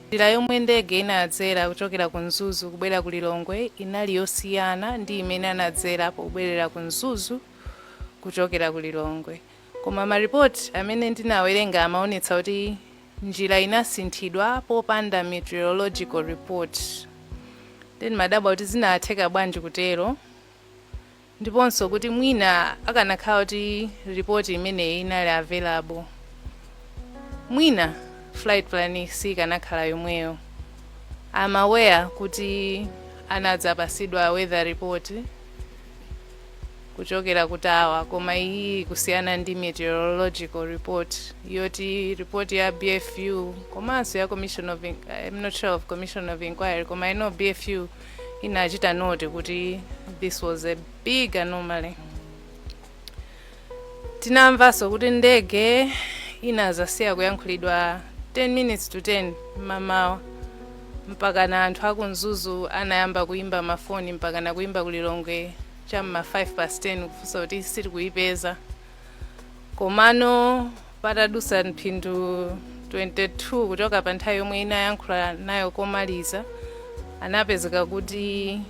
Njira yomwe ndege inadzera kuchokera ku Mzuzu kubwera ku Lilongwe inali yosiyana ndi imene anadzera pobwerera ku Mzuzu kuchokera ku Lilongwe. Koma maripoti amene ndinawerenga amaonetsa kuti njira inasinthidwa popanda meteorological report. Ndiye ndimadabwa kuti zinatheka bwanji kutero. ndiponso kuti mwina akanakhala kuti report imeneyi inali available mwina flight plan sikanakhala yomweyo I'm aware kuti anadzapasidwa weather report kuchokera ku tower koma iyi kusiyana ndi meteorological report yoti report ya bfu komanso ya commission of In- i'm not sure of commission of inquiry koma i know bfu inachita note kuti this was a big anomaly tinamvanso kuti ndege inazasiya kuyankhulidwa 10 minutes to 10 mamawa mpakana anthu aku Mzuzu anayamba kuyimba mafoni mpakana kuyimba ku Lilongwe cha m'ma 5 past 10 kufunsa kuti sitikuipeza komano Patadutsa mphindi 22 kuchoka pa nthawi yomwe inayankhula nayo komaliza, anapezeka kuti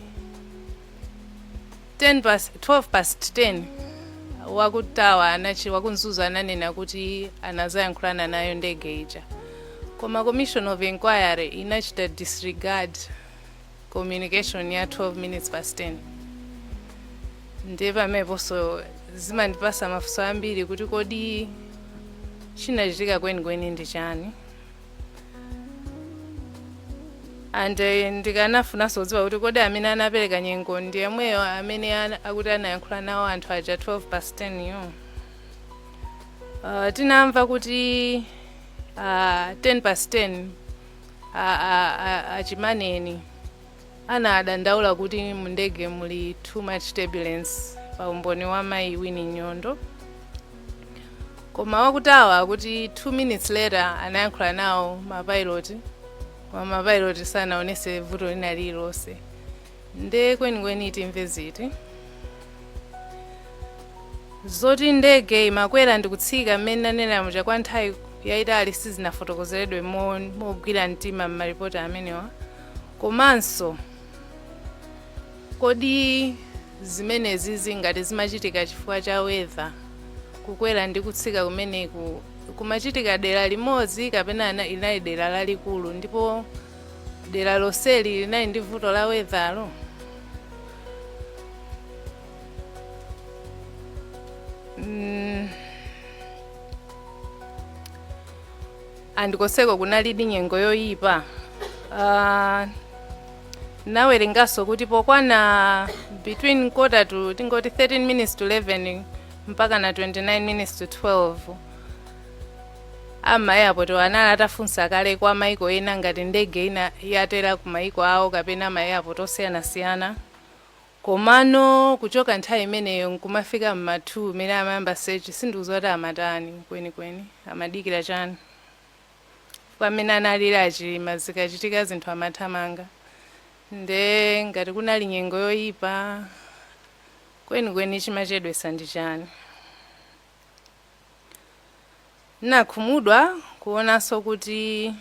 10 past, 12 past 10 waku tower anachi waku Mzuzu ananena kuti anazayankhulana nayo ndege ija koma commission of inquiry inachita disregard communication ya 12 minutes past 10 ndiye pameneponso zimandipasa mafunso ambiri kuti kodi chinachitika kwenikweni ndi chani and eh, ndikanafunanso kudziwa kuti kodi amene anapereka nyengo ndi yemweyo amene ana- akuti anayankhula nawo anthu aja 12 past 10 yo uh, tinamva kuti uh, 10 past 10 a, a, a, a Chimaneni anadandaula kuti mu ndege muli too much turbulence pa umboni wa mayi Winnie Nyondo koma waku tower akuti 2 minutes later anayankhula nawo mapilot koma mapilot sanaonetse vuto lina lililonse Nde kwenikweni timve ziti? Zoti ndege imakwera ndi kutsika mmene nanenera muja kwa nthawi yaitali sizinafotokozeredwe mogwira mtima m'maripoti amenewa. Komanso, kodi zimenezizi ngati zimachitika chifukwa cha weather, kukwera ndi kutsika kumeneku kumachitika dera limodzi kapena inali dera lalikulu ndipo Dera lonseli linali ndi vuto la weather lo? Mm. And konseko kunalidi nyengo yoyipa. Uh, nawerenganso kuti pokwana between quarter to tingoti 13 minutes to 11 mpaka na 29 minutes to 12 A m'ma airport wo anali atafunsa kale kwa maiko ena ngati ndege ina yatela ku maiko awo kapena ma airport osiyanasiyana komano kuchoka nthawi imeneyo nkumafika m'ma 2 mene amayamba search sindikuziwa kuti amatani kwenikweni amadikila chani chifukwa mene analili a Chilima zikachitika zinthu amathamanga nde ngati kunali nyengo yoyipa kwenikweni chimachedwesa ndi chani? Nakhumudwa kuonanso kuti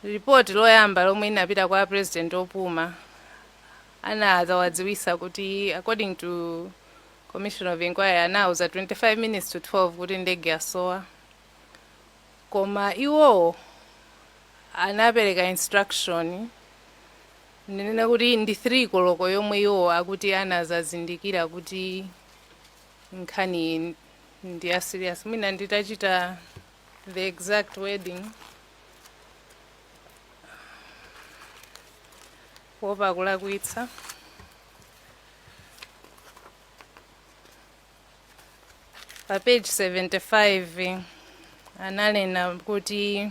report loyamba lomwe linapita kwa a president opuma anadzawadziwisa kuti according to commission of inquiry anauza 25 minutes to 12 kuti ndege yasowa koma iwowo anapereka instruction ndinene kuti ndi 3 koloko yomwe iwowo akuti anadzazindikira kuti nkhaniyi ndi ya serious mwina nditachita the exact wording kuopa kulakwitsa pa page 75 analemba kuti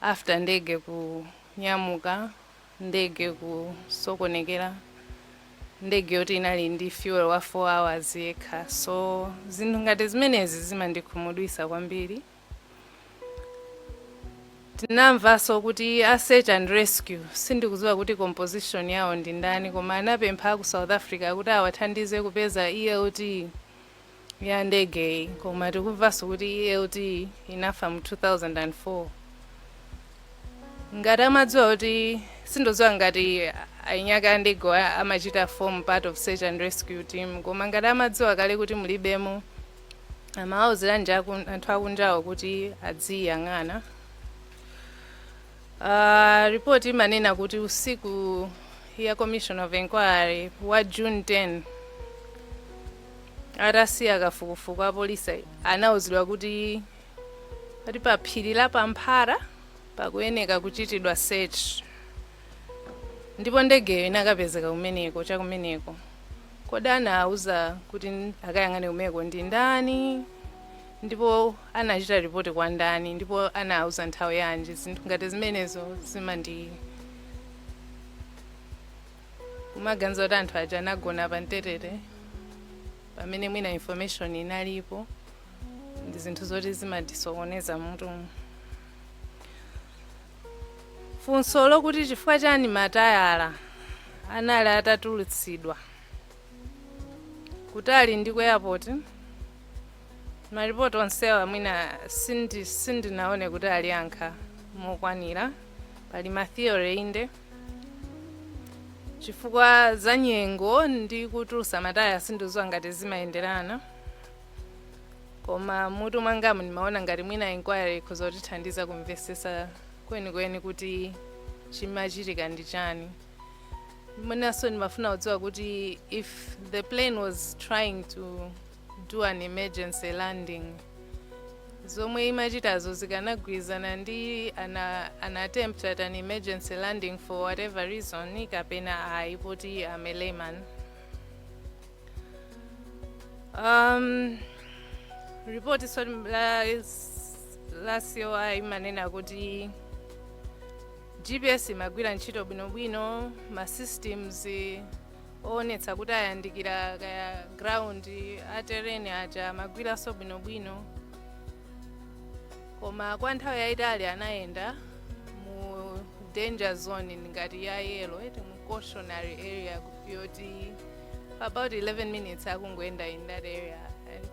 After ndege kunyamuka, ndege kusokonekera, ndege yoti inali ndi fuel wa 4 hours yekha, so zinthu ngati zimenezi zimandikhumudwitsa kwambiri. Tinamvanso kuti a search and rescue, sindikuziwa kuti composition yawo ndi ndani, koma anapempha aku South Africa kuti awathandize kupeza ELT. ya ndegeyi koma tikumvanso kuti elt inafa mu 2004 ngati amadziwa kuti sindodziwa ngati eniake a ndegewo a- amachita form part of search and rescue team koma ngati amadziwa kale kuti mulibemo amawauziranji anthu akunjawo kuti adziyang'ana Uh, report imanena kuti usiku ya commission of inquiry wa june 10 Atasiya kafukufuku, apolisi anauzidwa kuti ati pa phiri la Pamphara pakuyeneka kuchitidwa search ndipo ndegeyo inakapezeka kumeneko chakumeneko. Kodi anauza kuti akayang'ane kumeneko ndi ndani ndipo anachita ripoti kwa ndani ndipo anauza nthawi yanji? Zinthu ngati zimenezo zimandi kumaganiza kuti anthu aja anagona pa mtetete pamene mwina information inalipo ndi zinthu zoti zimatisokoneza mutu funso lokuti chifukwa chani matayala anali atatulutsidwa kutali ndi ku airport maripoti onsewa mwina sindinaone kuti aliyankha mokwanira pali matheory inde chifukwa za nyengo ndi kutulusa matayala sindidziwa ngati zimayenderana koma mutu mwangamu ndimaona ngati mwina inquiry ikhoza kutithandiza kumvesesa kwenikweni kuti chimachitika ndi chani mwinanso ndimafuna kudziwa kuti if the plane was trying to do an emergency landing zomwe imachitazo zikanagwirizana ndi an, an attempt at an emergency landing for whatever reason kapena ayi poti am a layman um, report so la, la COI imanena kuti gps imagwira ntchito bwinobwino ma systems oonetsa kuti ayandikira kaya ground a terrain aja amagwiranso bwinobwino koma kwa nthawi yayitali anayenda mu danger zone ngati ya yellow eti mu cautionary area yoti for about 11 minutes akungoyenda in that area and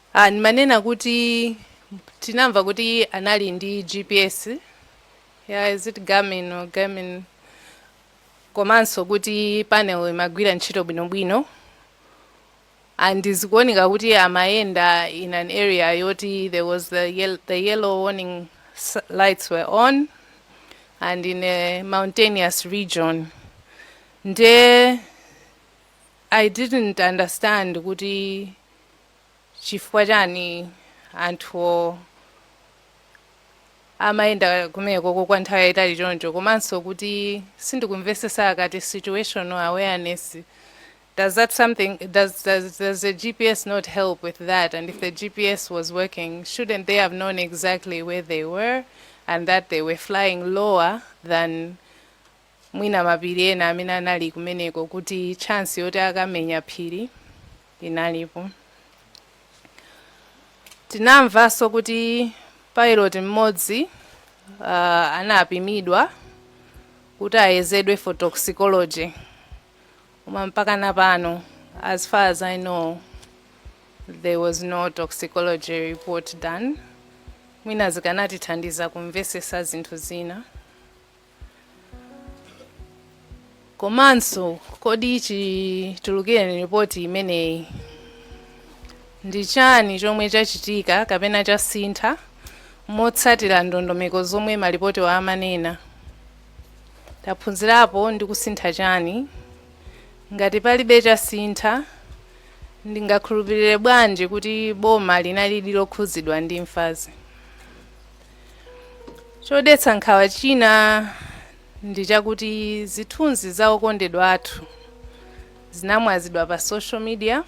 Ndimanena kuti tinamva kuti anali ndi GPS ya is it Garmin or Garmin komanso kuti panel imagwira ntchito bwinobwino and zikuoneka kuti amayenda in an area yoti there was the, yel the yellow warning lights were on and in a mountainous region nde I didn't understand kuti chifukwa chani anthuwo amayenda kumeneko ko kwa nthawi yayitali choncho komanso kuti sindikumvesesa akati situational awareness does that something does, does, does the gps not help with that and if the gps was working shouldn't they have known exactly where they were and that they were flying lower than mwina mapiri ena amene anali kumeneko kuti chance yoti akamenya phiri inalipo tinamvanso kuti pilot mmodzi uh, anapimidwa kuti ayezedwe for toxicology koma mpaka na pano as far as i know there was no toxicology report done mwina zikanatithandiza kumvesesa zinthu zina komanso kodi chitulukireni ripoti imeneyi ndi chani chomwe chachitika kapena chasintha motsatira ndondomeko zomwe malipotiwa amanena taphunzirapo ndi kusintha chani ngati palibe chasintha ndingakhulupirire bwanji kuti boma linalidi lokhuzidwa ndi imfazi chodetsa nkhawa china ndi chakuti zithunzi za okondedwa athu zinamwazidwa pa social media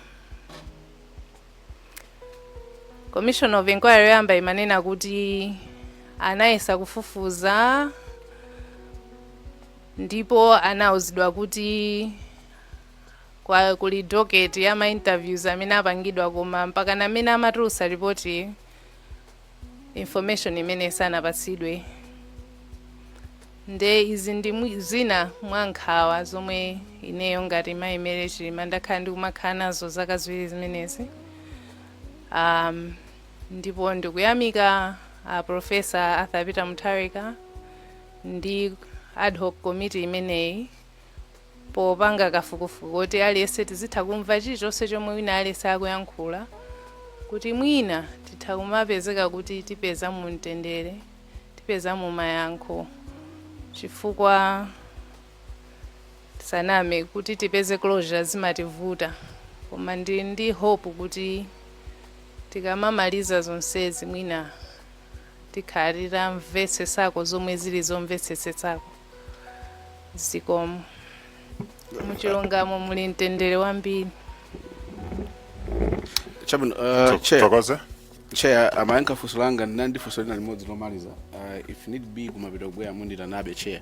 commission of inquiry yoyamba imanena kuti anayesa kufufuza ndipo anauzidwa kuti kuli docket ya ma interviews amene apangidwa koma mpaka mmene amatulutsa ripoti information imeneyi sanapatsidwe nde izi ndi mwi- zina mwa nkhawa zomwe ineyo ngati mayi Mary Chilima ndakhala ndikumakhala nazo zaka ziwiri zimenezi um, ndipo ndikuyamika a professor Arthur Peter Mutharika ndi ad hoc committee imeneyi popanga kafukufuku woti aliyense tizitha kumva chilichonse chomwe wina aliyense akuyankhula kuti mwina titha kumapezeka kuti tipezamo mtendere tipezamo mayankho chifukwa tisaname kuti tipeze closure zimativuta koma ndili ndi hope kuti tikamamaliza zonsezi mwina tikhala titamvetsetsako zomwe zili zomvetsetsetsako zikomo muchilungamo muli mtendere wambiri chabwino uh, chair tokoze chair amayankha funso langa ndinali ndi funso lina limodzi lomaliza uh, if need be kumapetoku mubwera mundiitanabe chair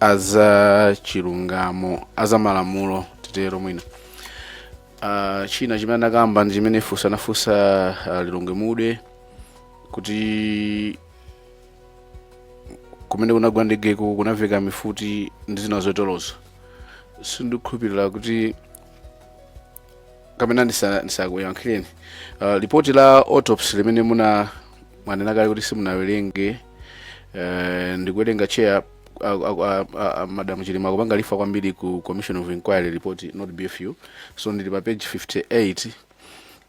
azachilungamo azamalamulo titero mwina uh, china chimene anakamba ndi chimene funso anafunsa uh, lilongwe mude kuti kumene kunagwa ndegeko kunaveka mifuti ndi zina zoterozo sindikhulupirira kuti kapena ndisa- ndisakuyankhireni uh, lipoti la autopsy limene muna mwanena kale kuti simunawerenge uh, ndikuwerenga chair a- a- a- a- a- madam chilima akupanga refer kwambiri ku commission of inquiry report not bfu so ndili pa page 58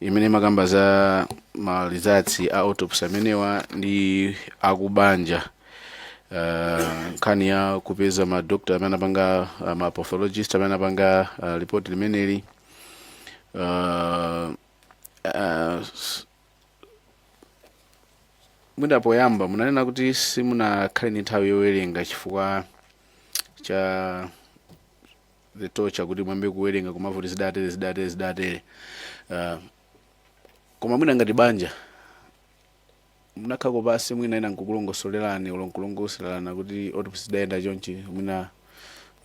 imene imakamba za ma results a autopsy amenewa ndi akubanja uh, nkhani ya kupeza ma doctor amene anapanga uh, ma pathologist amene anapanga uh, report limeneli uh, uh, s- mwina poyamba munanena kuti simunakhale ndi nthawi yowerenga chifukwa cha the torture kuti muyambe kuwerenga kumava kuti zidatere zidatere zidatere uh, koma mwina ngati banja munakhako pansi mwina ena nkukulongosolerani olo nkulongosolerana kuti autopsy zidayenda chonchi mwina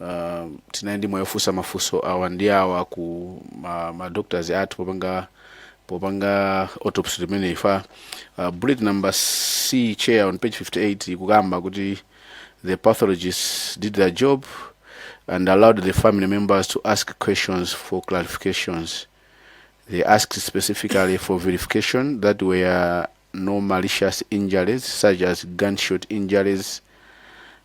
uh, tinali ndi mwayi ofunsa mafunso awa ndi awa ku ma, ma doctors athu popanga popanga autopsy limeneli refer uh, bullet number c chair on page 58 ikukamba kuti the pathologists did their job and allowed the family members to ask questions for clarifications They asked specifically for verification that were no malicious injuries such as gunshot injuries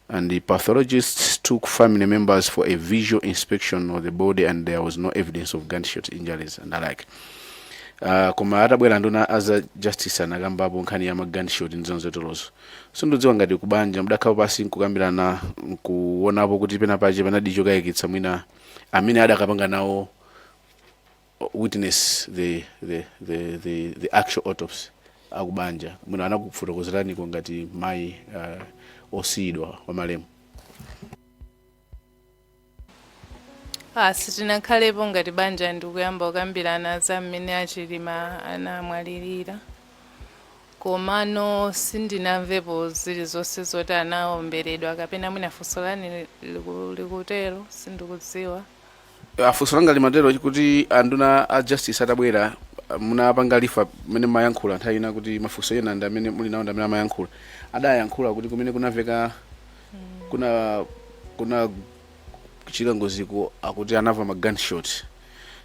and the pathologists took family members for a visual inspection of the body and there was no evidence of gunshot injuries and the like uh, koma atabwera nduna aza justice anakambapo nkhani ya magunshot ndi zina zoterozo sindidziwa ngati kubanja mudakhapo pansi nkukambirana nkuonapo kuti pena pache panadi chokayikitsa mwina amene adakapanga nawo witness the, the, the, the, the actual autopsy akubanja mwina anakufotokozeraniko ngati mayi uh, osiyidwa wa malemu Ah, sitinakhalepo ngati banja ndikuyamba kukambirana za mmene achilima anamwalirira komano sindinamvepo zilizonse zoti anaomberedwa kapena mwina funso lanu liku- likutero sindikudziwa Ah, funso langa limatero kuti anduna a justice atabwera ah, munapanga refer mmene mumayankhula nthawi ina kuti mafunso ena ndi amene muli nawo ndi amene amayankhula adayankhula kuti kumene kunaveka kuna kunachitika ngoziko akuti anava ma gunshot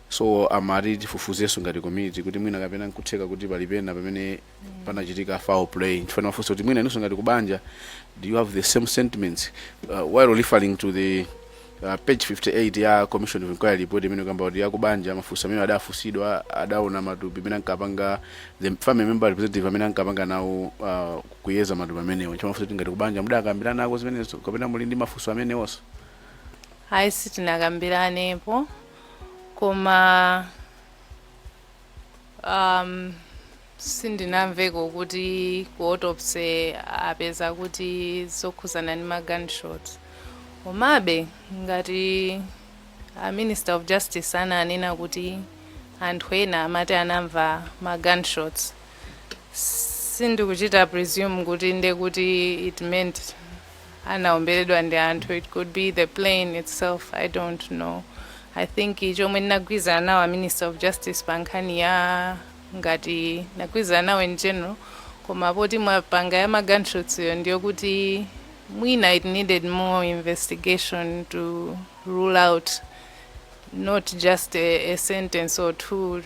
so amati tifufuzenso ngati committee kuti mwina kapena nkutheka kuti pali pena pamene panachitika foul play ndifunse mafunso kuti mwina inunso ngati kubanja do you have the same sentiments uh, while referring to the uh, page 58 ya commission of inquiry report imene ikukamba kuti yakubanja mafunso amene adafunsidwa adaona matupi amene ankapanga the family member representative amene ankapanga nawo uh, kuyeza matupi amenewo chifukwa mafunso kuti ngati kubanja mudakambiranako zimenezo kapena muli ndi mafunso amenewonso ayi sitinakambiranepo koma Um, sindinamveko kuti ku autopsy apeza kuti zokhuzana ndi ma gunshots komabe ngati a minister of justice ananena kuti anthu ena amati anamva ma gunshots sindikuchita presume kuti nde kuti it meant anaomberedwa ndi anthu, it could be the plane itself i don't know i think chomwe ndinagwirizana nawo a minister of justice pa nkhani ya ngati ndinagwirizana nawo in general koma poti mwapanga ya magunshots yo ndiyo kuti mwina it needed more investigation to rule out not just a, a sentence or two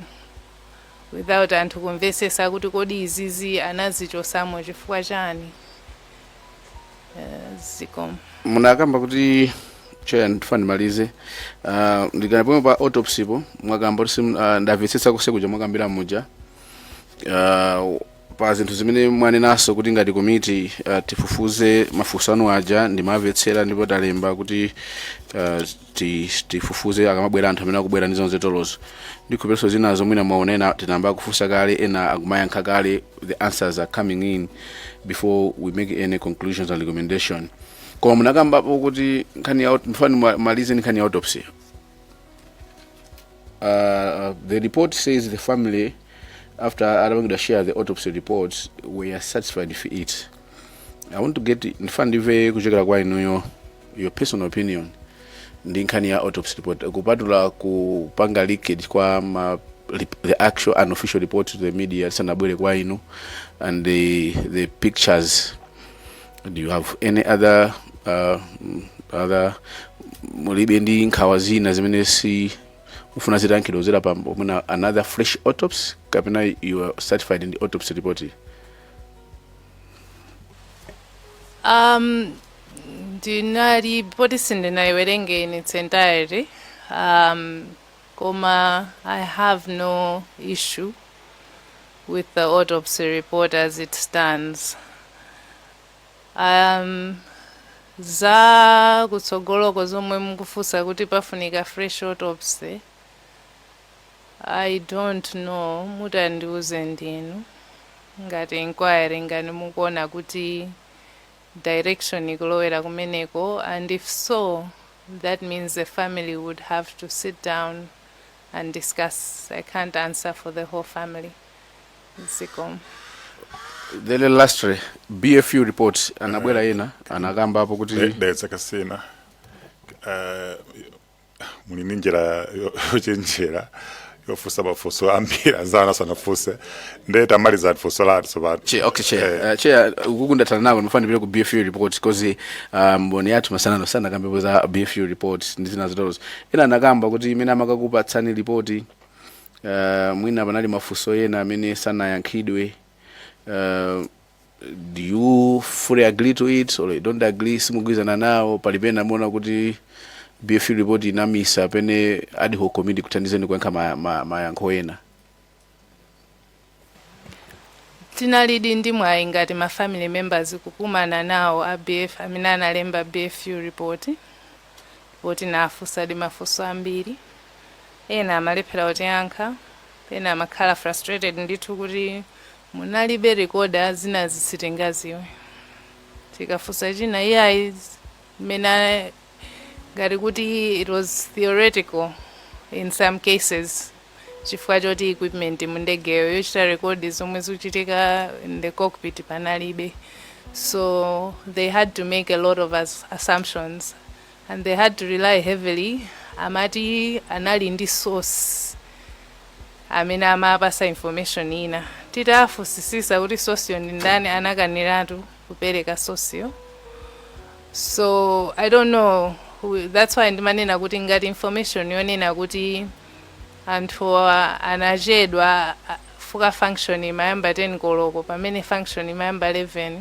without anthu kumvesesa kuti kodi izizi anazichosamo chifukwa chani Eh, zikomo munakamba kuti cheya ndifuna ndimalize uh, ndikanali pomwe pa autopsy po mwakamba kuti sim- ah, ndamvetsetsa konse muja mwakambira muja uh, pa zinthu zimene mwanenaso kuti ngati komiti uh, tifufuze mafunso anu aja ndimamvetsera ndipo talemba kuti uh, tifufuze akamabwera anthu amene akubwera ndi zomwe tatolerazo ndikukhulupiriranso zinazo mwina mwaona ena tinayamba kufunsa kale ena akumayankha kale the answers are coming in before we make any conclusions and recommendation koma munakambapo kuti nkhani ya aut- ndifuna ndimalize ndi nkhani ya autopsy uh, the report says the family after adapangidwa share the autopsy reports were satisfied with it i want to get ndifuna ndimve kuchokera kwa inuyo your personal opinion ndi nkhani ya autopsy report kupatula kupanga leakage kwa ma, rep- the actual unofficial report to the media isanabwere kwa inu and the, the pictures do you have any other uh, mm, other mulibe ndi nkhawa zina zimene mukufuna zitayankhidwa kuzera pa mwina another fresh autopsy kapena you are satisfied ndi autopsy report iyi? um, ndinalipoti sindinayiwerenge in its entirety um, koma i have no issue with the autopsy report as it stands um, za kutsogoloko zomwe mukufunsa kuti pafunika fresh autopsy i don't know mutandiuze ndinu ngati inquiry ngati mukuona kuti direction kulowera kumeneko and if so that means the family would have to sit down and discuss i can't answer for the whole family zikomo the last re- bfu report anabwera ena anakambapo kuti There- there's a casino uh, muli ndi njira yo- yochenjera yofunsa mafunso ambiri anzanu asanafunse nde tamalizani funso lanu tsopano Chair, okay, chair. Eh. Uh, chair, ukukundatana nako ndimafuna ndipite ku BFU report because uh, mboni yathu masanano anakambapo za BFU report ndi zina zitolozo. Ena anakamba kuti mmene amakakupatsani lipoti uh, mwina panali mafunso ena amene sanayankhidwe uh, do you fully agree to it or you don't agree simugwirizana nawo pali pena mumaona kuti bfu report inamisa pomwe ad hoc committee ikuthandizeni kuyankha ma- ma- mayankho ena tinalidi ndi mwayi ngati ma family members kukumana nawo a bf amene analemba bfu report po tinafunsadi mafunso ambiri ena amalephera kutiyankha pena amakhala frustrated ndithu kuti Munalibe recorder zinazi sitingaziwe. Tikafunsa china iyayi mwina ngati kuti it was theoretical in some cases chifukwa choti equipment mu ndegeyo yochita record zomwe zikuchitika in the cockpit panalibe. So they had to make a lot of assumptions and they had to rely heavily amati anali ndi source amene amapasa information ina titafusisisa kuti sourceyo ndi ndani anakaniratu kupereka sourceyo so i don't know who- that's why ndimanena kuti ngati information yonena kuti anthu anachedwa a- chifukwa function imayamba 10 koloko pamene function imayamba 11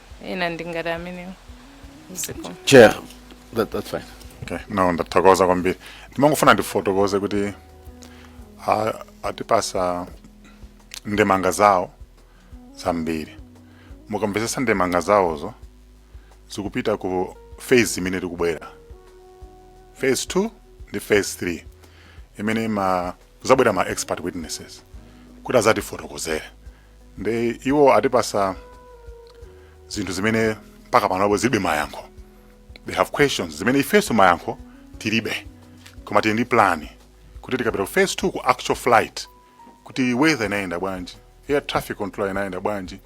ina ndi ngati imeneyo zikomo chair that, that's fine okay no ndathokoza kwambiri ndimangofuna ndifotokoze kuti a- atipasa ndemanga zawo zambiri mukamvetsetsa ndemanga zawozo zikupita ku phase imene tikubwera phase 2 ndi phase 3 imene ma kuzabwera ma expert witnesses kuti azatifotokozere nde iwo atipasa zinthu zimene mpaka panopo zilibe mayankho they have questions zimene ifenso mayankho tilibe koma tili ndi plan kuti tikapita ku phase 2 ku actual flight kuti weather inayenda bwanji air traffic control inayenda bwanji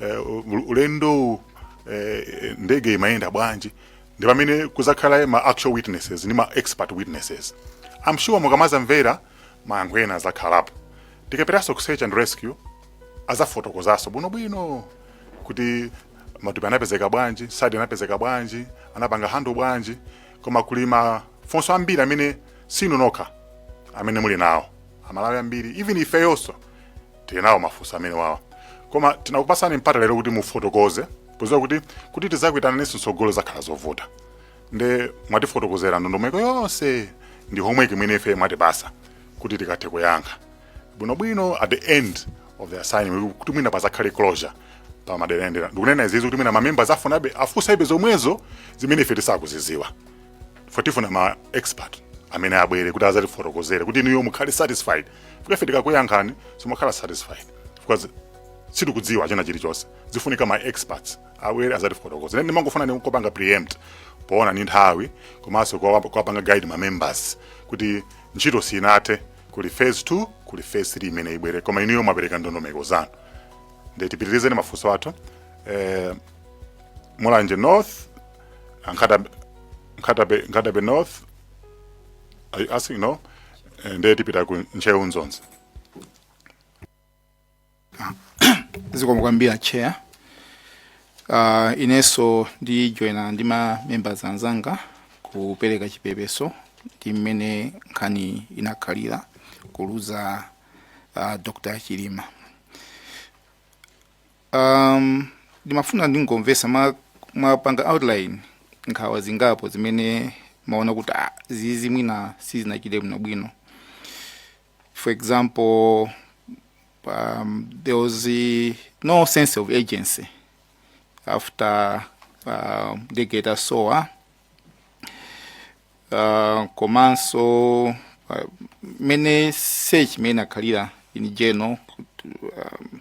eh, u- ulendowu eh, ndege imayenda bwanji ndi pamene kuzakhala ma actual witnesses ndi ma expert witnesses i'm sure mukamazamvera mayankho ena azakhalapo tikapitaso ku search and rescue azafotokozaso bwino bwino kuti matupi anapezeka bwanji site anapezeka bwanji anapanga handle bwanji koma kuli mafunso ambiri amene sinu nokha amene muli nawo amalawi ambiri even ifeyonso tili nawo mafunso amenewawa koma tinakupasani mpata lero kuti mufotokoze poziwa kuti kuti tizakuitananenso mtsogolo zakhala zovuta nde mwatifotokozera ndondomeko yonse ndi homework imene ife mwatipasa kuti tikathe kuyankha bwinobwino at the end of the assignment kuti mwina pazakhale closure pa madera ena ndikunena izizi kuti mwina mamembers afunabe afusabe zomwezo zimene ife tisakuziziwa for tifuna ma expert amene abwere kuti azatifotokozere kuti inuyo mukhale satisfied kuti ife tikakuyankhani simukhala satisfied because sitikudziwa china chilichonse zifunika ma experts abwere azatifotokoza ine ndimangofuna ndikupanga preempt poona ni nthawi komanso kuwa- kuwapanga guide ma members kuti ntchito sinathe kuli phase 2 kuli phase 3 imene ibwere koma inuyo mwapereka ndondomeko zanu nde tipitirizeni mafunso athu eh, mulanje north Nkhata- Nkhata Bay Nkhata Bay north are you asking no Eh, nde tipita ku ntcheu dzonzi zikomo kwambiri chair uh, inenso ndijoyina ndi ma members anzanga kupereka chipepeso ndi mmene nkhani inakhalira kuluza uh, dr chilima um, ndimafuna ndingomvesa ma- mwapanga outline nkhawa zingapo zimene maona kuti ah, zizi mwina sizinachite bwinobwino for example um, there was uh, no sense of agency after uh, the geta soa uh, komanso uh, mene search mene akhalira in general um,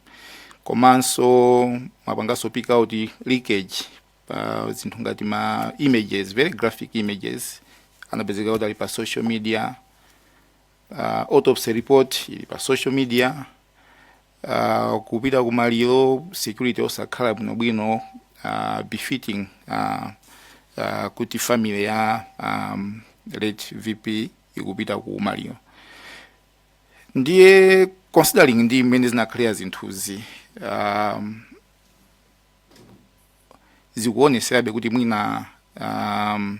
komanso mapangaso pick out leakage uh, zinthu ngati ma images very graphic images anapezeka kuti ali pa social media uh, autopsy report ili pa social media uh, kupita ku maliro security osakhala bwinobwino uh, befitting uh, uh, kuti family ya um, late vp ikupita ku maliro ndiye considering ndi mmene zinakhalira zinthuzi um, zikuoneserabe kuti mwina um,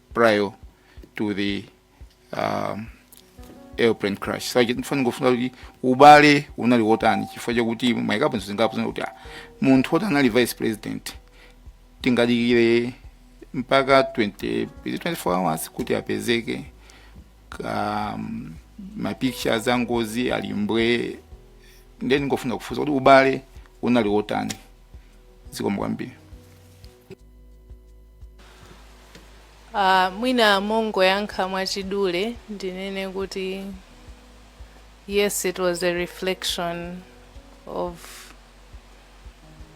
prior to the um, airplane crash so ndingofuna kufunsa kuti ubale unali wotani chifukwa chakuti mwaikapo zinthu zingapo zina kuti ah, munthu woti anali vice president tingadikire mpaka 20 is it 24 hours kuti apezeke um, mapictures a ngozi ali mbwe nde ndingofuna kufunsa kuti ubale unali wotani zikomo kwambiri Uh, mwina mongoyankha mwachidule ndinene kuti yes it was a reflection of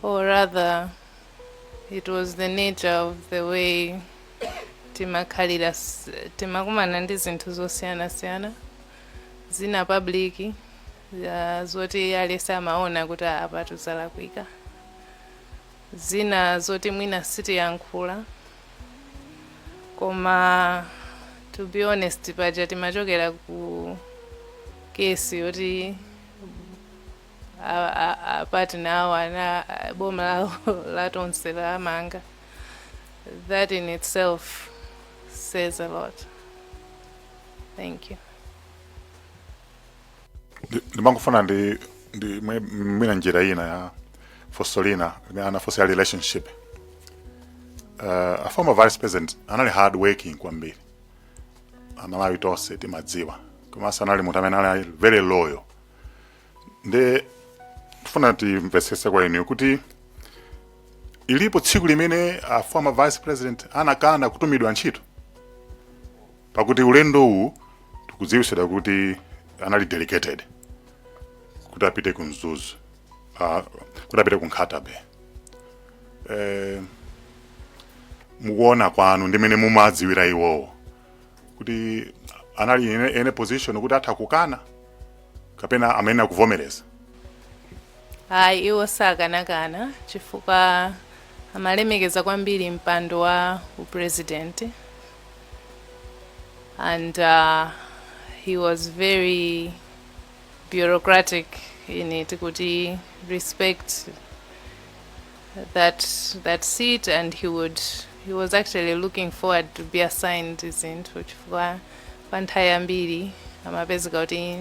or rather it was the nature of the way timakhalira s- timakumana ndi zinthu zosiyanasiyana zina public uh, zoti aliyense amaona kuti apatu zalakwika zina zoti mwina sitiyankhula koma to be honest paja timachokera ku kesi yoti a- a- a- partner awo a- a- boma lawo lonse lamangidwa that in itself says a lot thank you Ndi- ndimangofuna ndi ndi mwe- mwina njira ina ya funso lina limene anafunsa ya relationship uh, a former vice president anali hard working kwambiri amalawi tonse timadziwa komanso anali munthu amene anali very loyal nde tifuna timvetsetse kwa inuyo kuti ilipo tsiku limene a former vice president anakana kutumidwa ntchito pakuti ulendo uwu tikudziwitsidwa kuti anali delegated kuti apite ku Mzuzu uh, kuti apite ku Nkhata Bay eh, mukuona kwanu ndi mene mumadziwira iwowo kuti anali in a, in a position kuti atha kukana kapena amayenera kuvomereza ayi iwo sakanakana chifukwa amalemekeza kwambiri mpando wa upresident and uh, he was very bureaucratic eti kuti respect that that seat and he would he was actually looking forward to be assigned zinthu chifukwa Kwa nthawi yambiri amapezeka kuti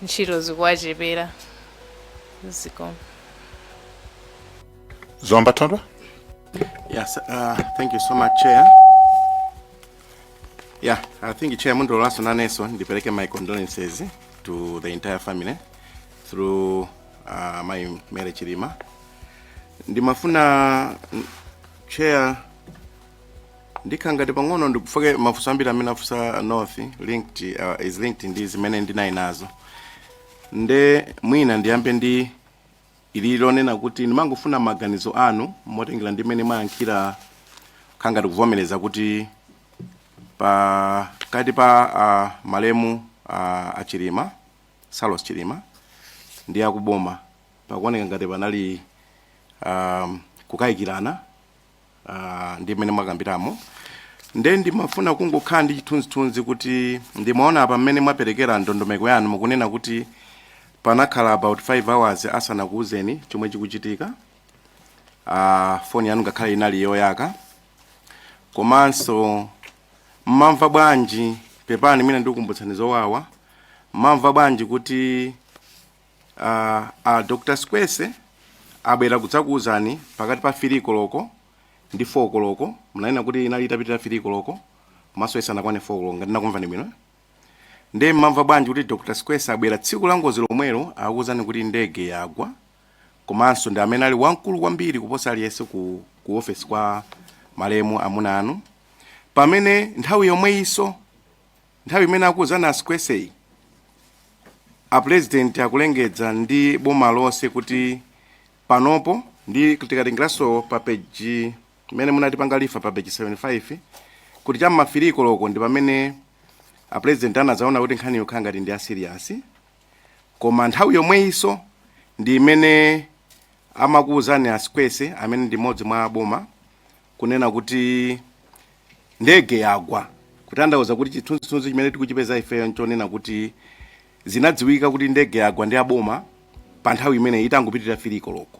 ntchito zikuwachepera. Zikomo. Zomba Thondwa? Yes, uh, thank you so much, Chair. Yeah, I think Chair mundilolenso nanenso ndipereke my condolences to the entire family through uh, mayi Mary Chilima. Ndimafuna mm, Chair ndikhala ngati pang'ono ndikufoke mafunso ambiri amene afunsa north linked uh, is linked ndi zimene ndinali nazo nde mwina ndiyambe ndi ili lonena kuti ndimangofuna maganizo anu motengera ndi mmene mwayankhira khala ngati kuvomereza kuti pakati pa uh, malemu uh, a Chilima Saulos Chilima ndi akuboma pakuoneka ngati panali um, kukayikirana uh, ndi mmene mwakambiramo nde ndimafuna kungokhala ndi chithunzithunzi kuti ndimaona apa mmene mwaperekera ndondomeko yanu mukunena kuti panakhala about 5 hours asanakuuzeni chomwe chikuchitika uh, foni yanu ngakhale inali yoyaka komanso mmamva bwanji pepani mwina ndikukumbutsani zowawa mmamva bwanji kuti Uh, uh, Dr. Sikwese abwera kudzakuwuzani pakati pa 3 koloko ndi 4 koloko munanena kuti inali itapitira 3 koloko komanso isanakwane 4 koloko ngati nakumvani bwino ndiye mmamva bwanji kuti Dr. Sikwese abwera tsiku la ngozi lomwelo akuwuzani kuti ndege yagwa komanso ndi amene ali wamkulu kwambiri kuposa aliyense ku, ku ofesi kwa malemu amuna anu pamene nthawi yomweyinso Nthawi imene akuuzani a Sikweseyi, a Pulezidenti akulengeza ndi boma lonse kuti panopo ndi tikatengeraso pa peji imene munatipanga refer pa peji 75 kuti chamma 3 koloko ndi pamene a Pulezidenti anadzaona kuti nkhaniyo khala ngati ndi ya serious koma nthawi yomweyiso ndi imene amakuuzani a Sikwese amene ndi mmodzi mwa a boma kunena kuti ndege yagwa kutanthauza kuti chithunzithunzi chimene tikuchipeza ifeyo nchonena kuti zinadziwika kuti ndege yagwa ndi aboma pa nthawi imeneyi itangopitirira 3 koloko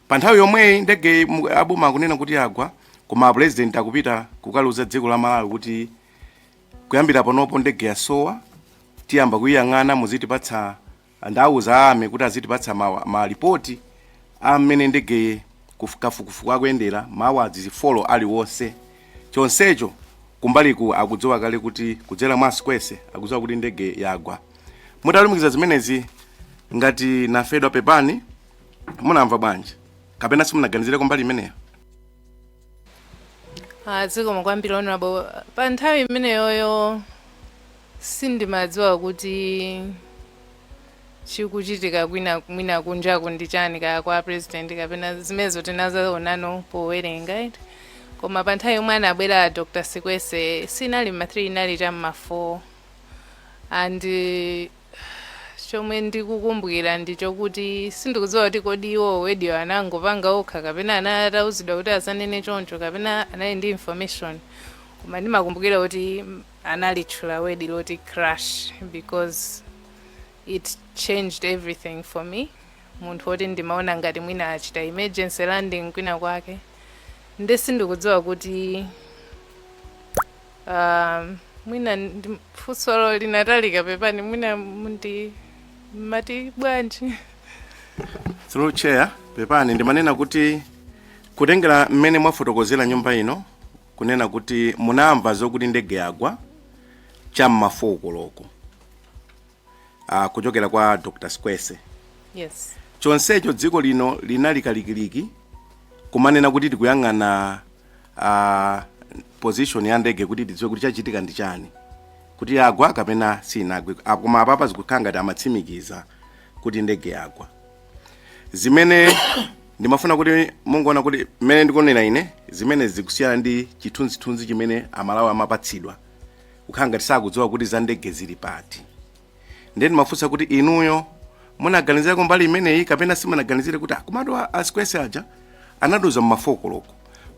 pa nthawi yomweyi ndege mu- aboma akunena kuti yagwa koma apulezidenti akupita kukaliuza dziko la malawi kuti kuyambira panopo ndege yasowa tiyamba kuyiyang'ana muzitipatsa Ndauza a army kuti azitipatsa ma ma report a mmene ndege kuf kafukufuku akuyendera ma hours 4 aliwonse chonsecho kumbaliku akudziwa kale kuti kudzera mwa Sikwese akudziwa kuti ndege yagwa. Mutalumikiza zimenezi ngati namfedwa pepani munamva bwanji? Kapena simunaganizireko mbali imeneyo? Ah, zikomo kwambiri honorable pa nthawi imeneyoyo sindimadziwa kuti chikuchitika kwina mwina kunjaku ndi chani kaya kwa president kapena zimenezo tinazaonano powerenga eti. koma pa nthawi yomwe anabwera Dr. Sikwese sinali ma 3 inali cha mma 4 and eh, Chomwe ndikukumbukira ndi chokuti sindikudziwa kuti kodi iwo word yo anangopanga okha kapena anatauzidwa kuti azanene choncho kapena anali ndi information koma ndimakumbukira kuti analitchula word loti crash because it changed everything for me munthu woti ndimaona ngati mwina achita emergency landing kwina kwake nde sindikudziwa kuti Ah, mwina funsolo linatalika pepani mwina mundi mati bwanji through chair pepani ndimanena kuti kutengera mmene mwafotokozera nyumba ino kunena kuti munamva zokuti ndege yagwa cham'ma 4 koloko uh, kuchokera kwa dr Sikwese yes. chonsecho dziko lino linali kalikiliki kumanena kuti tikuyang'ana uh, position ya ndege kuti tidziwe kuti chachitika ndi chani kuti yagwa kapena sinagwe Ah, koma apapa zikukhala ngati amatsimikiza kuti ndege yagwa zimene ndimafuna kuti mungoona mmene ndikuonera ine zimene zikusiyana ndi chithunzithunzi chimene amalawi amapatsidwa kukhala ngati sakudziwa kuti za ndege zili pati ndiye ndimafunsa kuti inuyo munaganizirako mbali imeneyi kapena simunaganizire kuti komatu a Sikwese aja anatiuza mma 4 koloko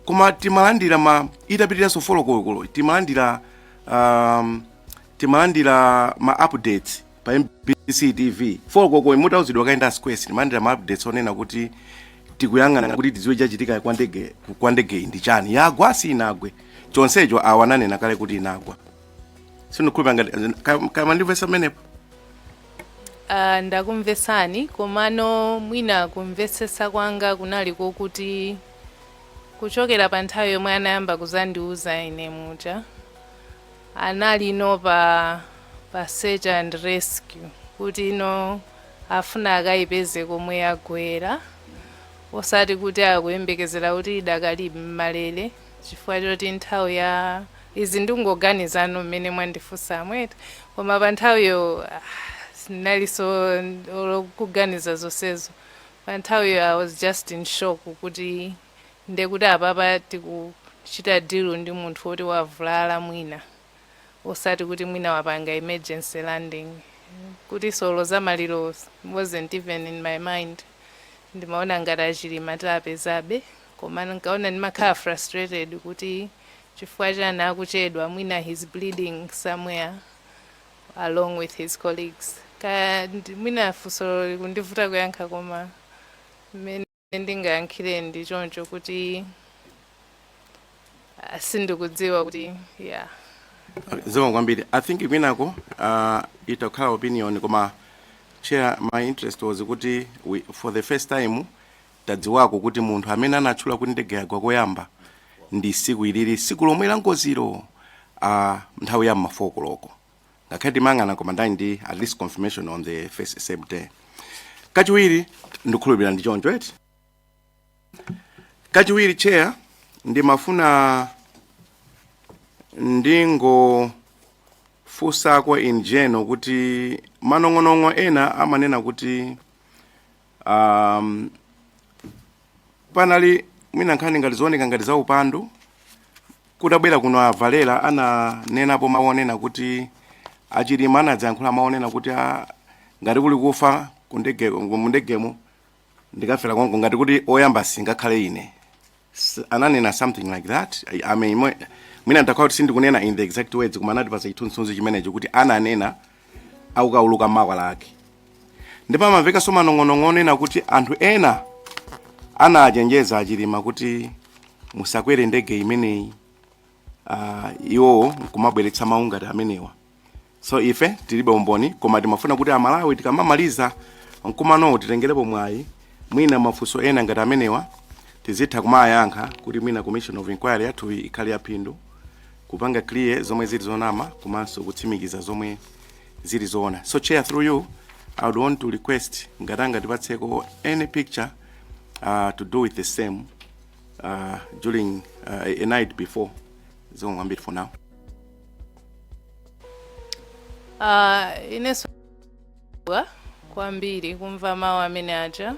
koma timalandira ma itapitiranso 4 koloko timalandira um, timalandira ma updates pa mbc tv 4 koloko mutauzidwa kale ndi a Sikwese timalandira ma updates onena kuti tikuyang'ana kuti tidziwe chachitika kwa ndege kwa ndege iyi ndi chani yagwa sinagwe chonsecho awa ananena kale kuti inagwa sindikhulupira ngati ka- kaya mwandimvesa pamenepo Ah, ndakumvesani komano mwina kumvesesa kwanga kunali kokuti kuchokera pa nthawi yomwe anayamba kuzandiuza ine muja anali no pa pa search and rescue kuti no afuna akaipeze komwe yagwera osati kuti akuyembekezera kuti idakali m'malere chifukwa choti nthawi ya izi ndingoganizano mmene mwandifunsamu eti koma pa nthawiyo sinalinso olo kuganiza zonsezo pa nthawiyo i was just in shock kuti ndekuti apapa tikuchita deal ndi munthu woti wavulala mwina osati kuti mwina wapanga emergency landing kuti so olo za maliro wasn't even in my mind ndimaona ngati achilima tiapezabe komano nkaona ndimakhala frustrated kuti chifukwa chani akuchedwa mwina he's bleeding somewhere along with his colleagues kaya ndi- mwina funso likundivuta kuyankha koma mmene ndingayankhire ndi choncho kuti ah, sindikudziwa kuti yeah zikomo kwambiri i think kwinako uh, itakhala opinion koma chair my interest was kuti we, for the first time tadziwako kuti munthu amene anatchula kuti ndege yagwa koyamba ndi siku ilili siku lomwe la ngoziro uh, nthawi ya m'ma 4 koloko ngakhale timayang'ana koma ndani ndi at least confirmation on the first same day kachiwiri ndikhulupirira ndi choncho eti kachiwiri chair ndimafuna ndingofunsako in general kuti manong'onong'o ena amanena kuti um, panali mwina nkhani ngati zooneka ngati za upandu kutabwera kuno a Valera ananenapo mawu onena kuti a Chilima anadzayankhula mawu onena kuti a- ngati kuli kufa kundege- mundegemo ndikafera konko ngati kuti oyamba singakhale ine S- ananena something like that I- I mean, mwe- mwina ndakhala kuti sindikunena in the exact words koma anatipasa chithunzithunzi chimenecho kuti ananena akukauluka m'makwalala ndipo amamvekanso manong'onong'o onena kuti anthu ena anachenjeza a Chilima kuti musakwere ndege imeneyi uh, iwowo nkumabweretsa mawu ngati amenewa so ife tilibe umboni koma timafuna kuti aMalawi tikamamaliza mkumanowo titengerepo mwayi mwina mafunso ena ngati amenewa tizitha kumayankha kuti mwina commission of inquiry yathuyi ikhale yaphindu kupanga clear zomwe zili zonama komanso kutsimikiza zomwe zili zoona so chair through you i would want to request ngati angatipatseko any picture uh, to do with the same uh, during uh, a night before zikomo kwambiri for now Ah, inenso ndinadabwa kwambiri kumva mawu amene aja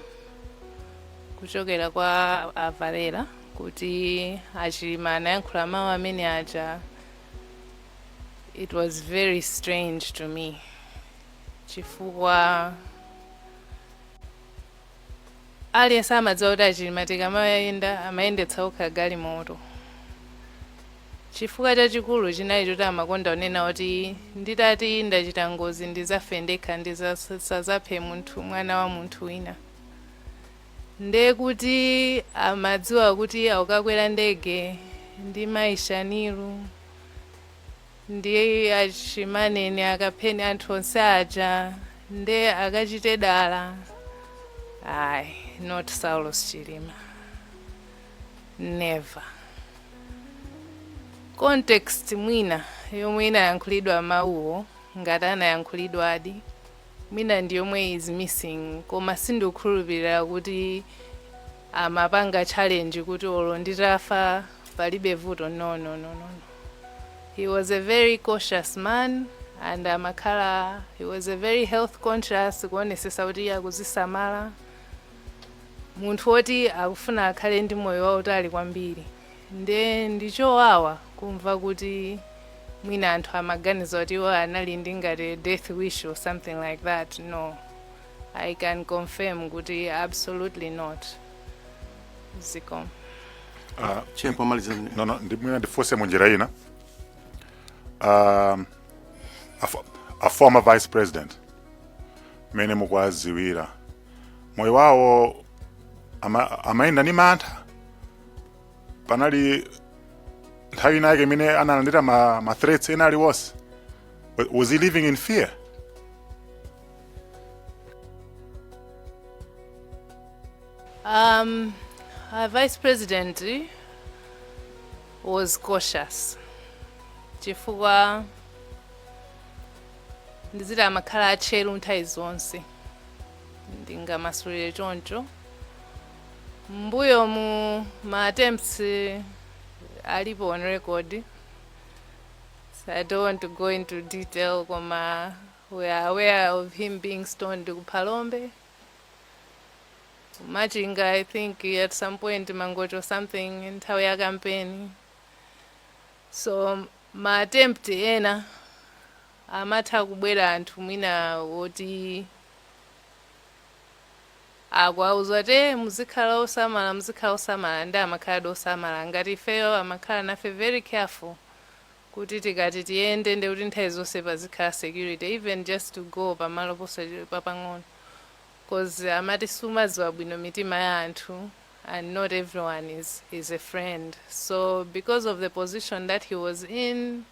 kuchokera kwa a Valera kuti a Chilima anayankhula mawu amene aja it was very strange to me chifukwa Aliyense amadziwa kuti a Chilima tikamayenda amayendetsa okha galimoto. Chifukwa chachikulu chinali choti amakonda kunena kuti nditati ndachita ngozi ndizafe ndekha ndisazaphe munthu mwana wa munthu wina. Nde kuti amadziwa kuti akukakwera ndege ndi mayi Shanil. Ndiye achimanene akapheni anthu onse aja nde akachite dala ayi not Saulos Chilima never context mwina yomwe inayankhulidwa mawuwo ngati anayankhulidwadi mwina ndi yomwe is missing koma sindikukhulupirira kuti amapanga challenge kuti olo nditafa palibe vuto no no no no no he was a very cautious man and amakhala he was a very health conscious kuonesesa kuti iye akuzisamala munthu woti akufuna akhale ndi moyo wautali kwambiri nde ndichowawa kumva kuti mwina anthu amaganiza kuti iwo anali ndi ngati death wish or something like that no I can confirm kuti absolutely not. Zikomo. Ah, Chair, pomaliza zimene- no, no, ndi- mwina ndifunse mu njira ina um, a, fo- a former vice president mmene mukuwadziwira moyo wawo ama, amayenda ni mantha panali nthawi ina yake imene analandira ma, ma threats ena aliwonse Wa- was he living in fear Um, our vice president was cautious chifukwa ndiziti amakhala atcheru nthawi zonse ndingamasulire choncho m'mbuyomu ma attempts eh, alipo on record so i don't want to go into detail koma We are aware of him being stoned ku Phalombe. Machinga, I think at some point Mangochi or something nthawi ya campaign. So ma attempt ena amatha kubwera anthu mwina woti akuwauza kuti muzikhala osamala muzikhala osamala nde amakhaladi osamala ngati ifeyo amakhala nafe very careful kuti tikati tiyende ndekuti nthawi zonse pazikhala security even just to go pamalo papang'ono coz amati sumadziwa bwino mitima ya anthu and not everyone is, is a friend so because of the position that he was in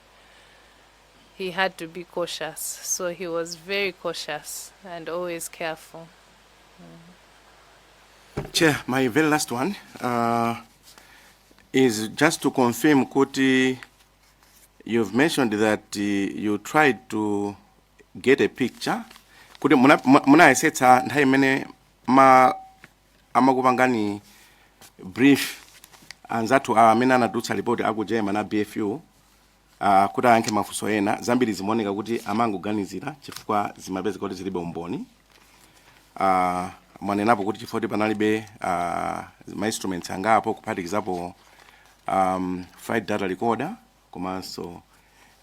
he had to be cautious so he was very cautious and always careful Chair, my very last one. Uh, is just to confirm kuti you've mentioned that uh, you tried to get a picture kuti muna- mu- munayesetsa nthawi imene ma amakupangani brief anzathu amene anatulutsa report aku Germany a BFU Uh, kuti ayankhe mafunso ena zambiri zimaoneka kuti amangoganizira chifukwa zimapezeka kuti zilibe umboni uh, mwanenapo kuti chifukwa kuti panalibe uh, mainstruments angapo kuphatikizapo um, flight data recorder komanso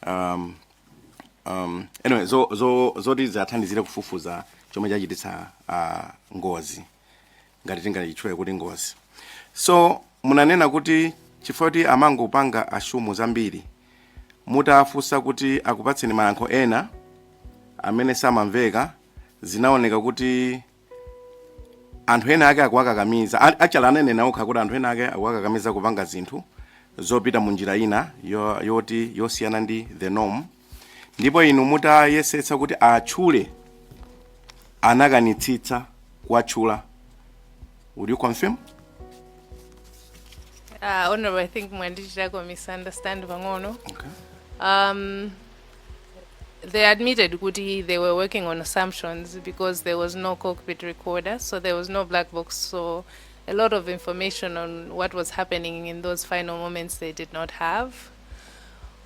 um, um, anyway zo, zo, zoti ziwathandizire kufufuza chomwe chachititsa uh, ngozi ngati tingachitchule kuti ngozi so munanena kuti chifukwa kuti amangopanga assume zambiri mutafunsa kuti akupatseni mayankho ena amene samamveka zinaoneka kuti anthu ena ake akuwakakamiza a- actually ananena okha kuti anthu ena ake akuwakakamiza kupanga zinthu zopita mu njira ina yo- yoti yosiyana ndi the norm ndipo inu mutayesetsa kuti atchule anakanitsitsa kuwatchula would you confirm Uh, honorable, I think mwandichitako misunderstand pang'ono. okay. Um, they admitted kuti they were working on assumptions because there was no cockpit recorder, so there was no black box. So a lot of information on what was happening in those final moments they did not have.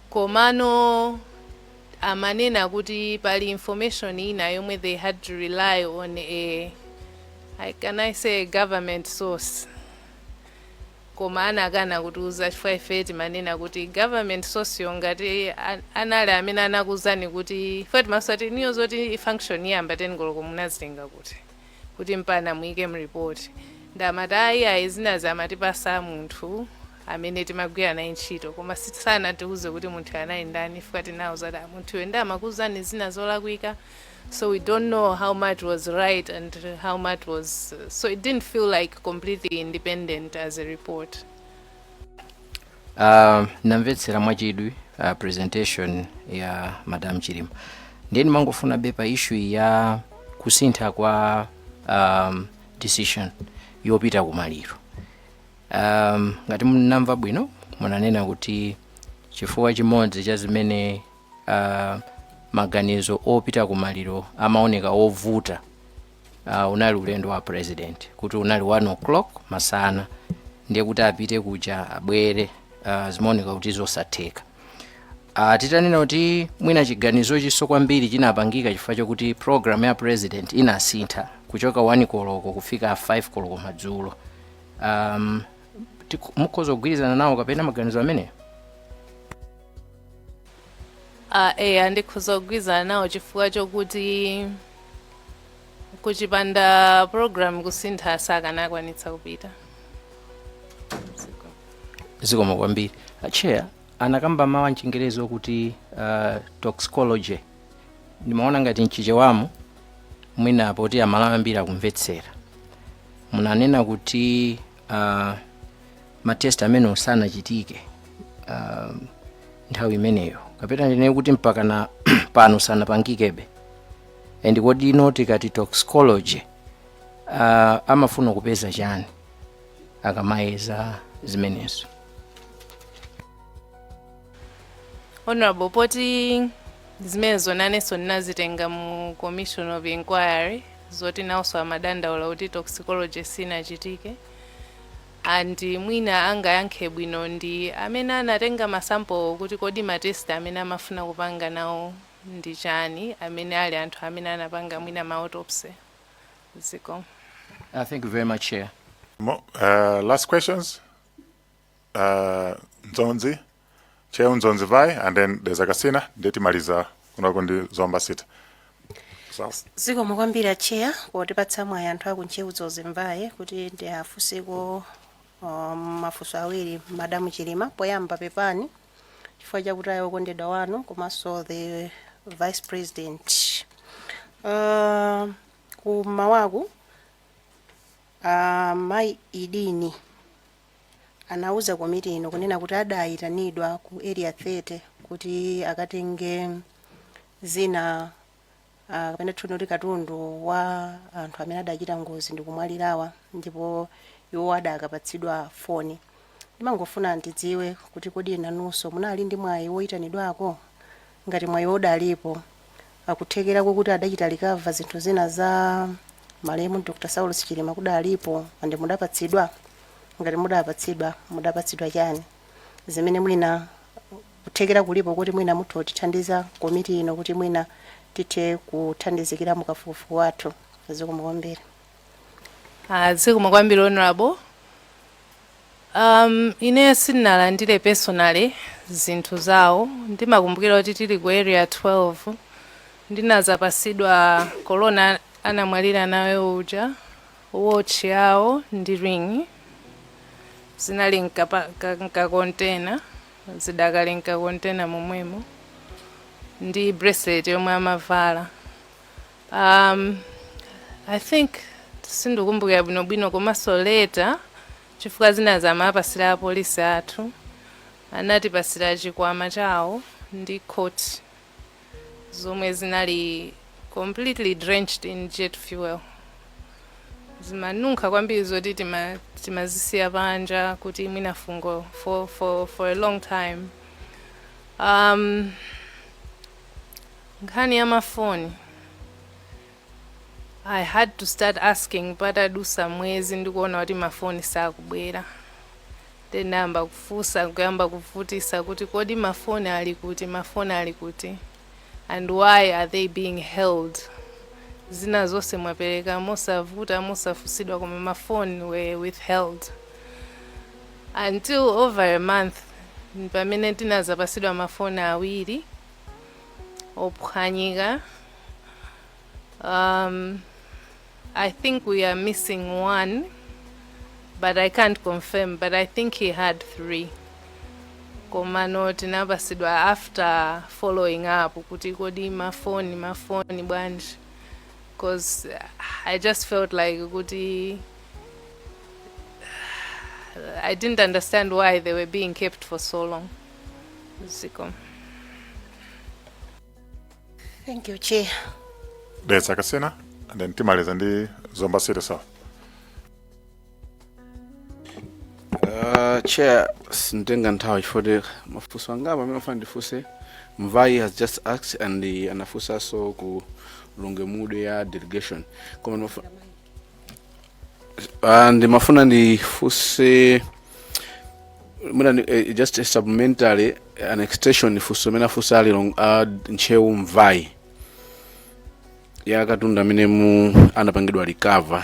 Komano amanena kuti pali information ina yomwe they had to rely on a I can I say a government source koma anakana kutiuza chifukwa ife timanena kuti government source yo ngati a- anali amene anakuuzani kuti ife timasati niyo zoti function iyamba 10 koloko munazitenga kuti kuti mpana muike mreport nde amati ayi ayi zinazi amatipasa munthu amene timagwira naye ntchito koma si- sanatiuze kuti munthuyo anali ndani chifukwa tinawauza kuti "Ah, munthuyo nde amakuuzani zina zolakwika so we don't know how much was right and how much was so it didn't feel like completely independent as a report Uh, namvetsera mwachidwi uh, presentation ya madam Chilima ndiye ndimangofunabe pa issue ya kusintha kwa um, decision yopita kumaliro um, ngati ndinamva bwino munanena kuti chifukwa chimodzi cha zimene uh, maganizo opita kumaliro amaoneka ovuta uh, unali ulendo wa president kuti unali 1 o'clock masana ndiye kuti apite kuja abwere uh, zimaoneka kuti zosatheka uh, titanena kuti mwina chiganizochinso kwambiri chinapangika chifukwa chokuti program ya president inasintha kuchoka 1 koloko kufika 5 koloko madzulo um, tiku- mukhoza kugwirizana nawo kapena maganizo ameneyo Uh, eya ndikhoza kugwirizana nawo chifukwa chokuti kuchipanda program kusintha sakanakwanitsa kupita zikomo kwambiri a chair anakamba mawu amchingerezi okuti uh, toxicology ndimaona ngati mchichewamu mwina poti aMalawi ambiri akumvetsera munanena kuti uh, ma test amenewo sanachitike um, nthawi imeneyo kapena ndinene kuti mpaka na pano sanapangikebe and kodi inu tikati toxicology uh, amafuna kupeza chani akamayeza zimenezo honorable poti zimenezo nanenso ninazitenga mu commission of inquiry zoti nawonso amadandaula kuti toxicology sinachitike and mwina angayankhe bwino ndi amene anatenga ma sample kuti kodi ma test amene amafuna kupanga nawo ndi chani amene ali anthu amene anapanga mwina ma autopsy. Zikomo. Uh, thank you very much, Chair. Mo, uh, last questions? Uh, Dzonzi? Ntcheu Dzonzi Mvai and then there's a Kasina ndiye timalizakonako ndi Zomba City. Sawa. zikomo kwambiri acheya potipatsa mwayi anthu aku Ntcheu Dzonzi Mvai kuti ndiwafunseko um, mafunso awiri madamu chilima poyamba pepani chifukwa chakutaya okondedwa wanu komanso the vice president uh, kumawaku uh, mayi idini anauza komiti ino kunena kuti adaayitanidwa ku Area 30 kuti akatenge zina ah, kapena titchule kuti katundu wa anthu amene adachita ngozi ndi kumwalirawa ndipo iwo adakapatsidwa foni. Ndimangofuna ndidziwe kuti kodi nanunso munali ndi mwayi woyitanidwako? ngati mwayiwo udalipo, ah kuthekera kokuti adachita recover zinthu zina za malemu Dr Saulos Chilima kudalipo and mudapatsidwa? Ngati mudapatsidwa, mudapatsidwa chani zimene mwina kuthekera kulipo koti mwina mutha kutithandiza komiti ino kuti mwina tithe kuthandizikira mukafukufuku wathu? Zikomo kwambiri. Ah, zikomo kwambiri honorable um, ine sinalandire personally zinthu zawo ndimakumbukira kuti tili ku area 12 ndinazapasidwa korona anamwalira nayo uja watch yawo ndi ring zinali mkapa- ka- mkakontena zidakali mkakontena momwemo ndi bracelet yomwe amavala Um, I think sindikumbukira bwinobwino komanso later chifukwa zinazamapasira apolisi athu anatipasira chikwama chawo ndi coat zomwe zinali completely drenched in jet fuel zimanunkha kwambiri zoti tima- timazisiya panja kuti mwina fungo for, for, for a long time um, nkhani ya mafoni i had to start asking patadusa mwezi ndikuona kuti mafoni sakubwera then nayamba kufunsa kuyamba kuvutisa kuti kodi mafoni ali kuti mafoni ali kuti and why are they being held zina zonse mwapereka mosavuta mosafunsidwa koma mafoni were withheld Until over a month pamene tinazapasidwa ma phone awiri ophwanyika, um I think we are missing one but I can't confirm but I think he had three komano tinapasidwa after following up kuti kodi ma phone ma phone bwanji coz I just felt like kuti I didn't understand why they were being kept for so long. Zikomo. Thank you, Chair. That's a Kasena, and then Timaliza ndi Zomba City South. Uh, chair sinditenga nthawi chifukwa mafunso angapo amene ndimafuna ndifunse mvai has just asked and uh, anafunsanso a ku Lilongwe Mude ya delegation koma ndimafu- Uh, ndimafuna ndifunse mwina ndi- eh, just a supplementary and extension funso limene afunsa a Lilong- a ntcheu mvai ya katundu amene mu anapangidwa recover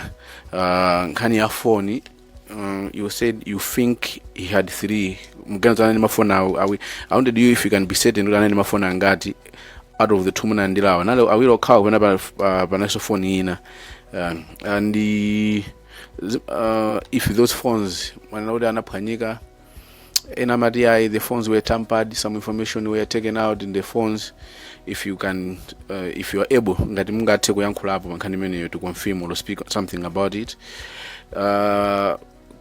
uh, nkhani ya foni Uh, you said you think he had three mukuganiza anali ndi mafoni awi awi I wanted you if you can be certain kuti anali ndi mafoni angati out of the two munalandirawa anali awiri okhawa kapena pa- pa- panalinso foni ina uh, and uh, zi- uh, if those phones mwanena kuti anaphwanyika ena amati ayi the phones were tampered some information were taken out in the phones if you can uh, if you are able ngati mungathe kuyankhulapo pa nkhani imeneyo to confirm or speak something about it uh,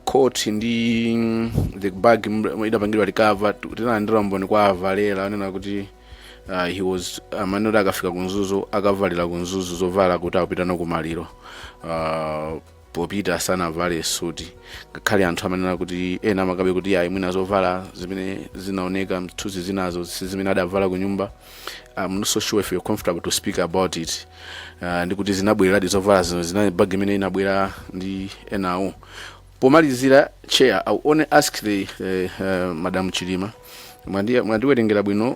court ndi mm, the bag mm, idapangidwa recover tinalandira umboni kwa avalera anena kuti uh, he was amanena kuti akafika ku Mzuzu akavalira ku Mzuzu zovala kuti apite nazo kumaliro uh, popita sanavale suti ngakhale anthu amanena kuti ena amakanabe kuti ayi mwina zovala zimene zinaoneka m'zithunzi zinazo si zimene adavala ku nyumba I'm not so sure if you're comfortable to speak about it uh, ndi kuti zinabwereradi zovala zimene zinali mu bag imene inabwera ndi enawo pomalizira chair I will only ask the uh, uh, madam chilima Mwandi- mwandiwerengera bwino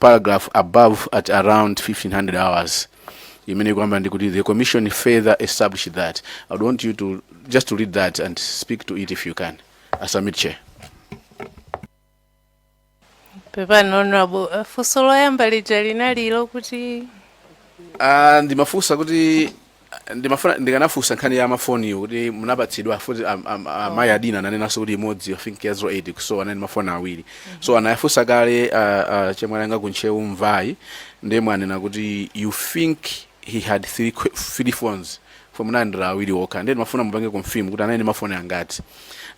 paragraph above at around 1500 hours imene ikuyamba ndi kuti the commission further established that i would want you to just to read that and speak to it if you can I submit chair pepani honorable eh, funso loyamba lija linali loti Ah, ndimafunsa kuti Ah, ndimafuna ndikanafunsa nkhani ya mafoniyo kuti munapatsidwa futi am- am- amayi adina ananenanso kuti imodzi i think ya 08 so anali mafoni awiri so anayafunsa kale ah, ah, chemwali anga kuntchewu Mvai ndiye mwanena kuti you think he had three, qu- three phones so munalandira awiri okha ndiye ndimafuna mupange confirm kuti anali ndi mafoni angati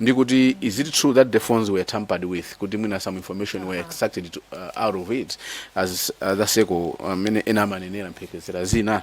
ndi kuti is it true that the phones were tampered with kuti mwina some information were extracted to, uh, out of it as uh, the seco amene ena amanenera mphekesera zina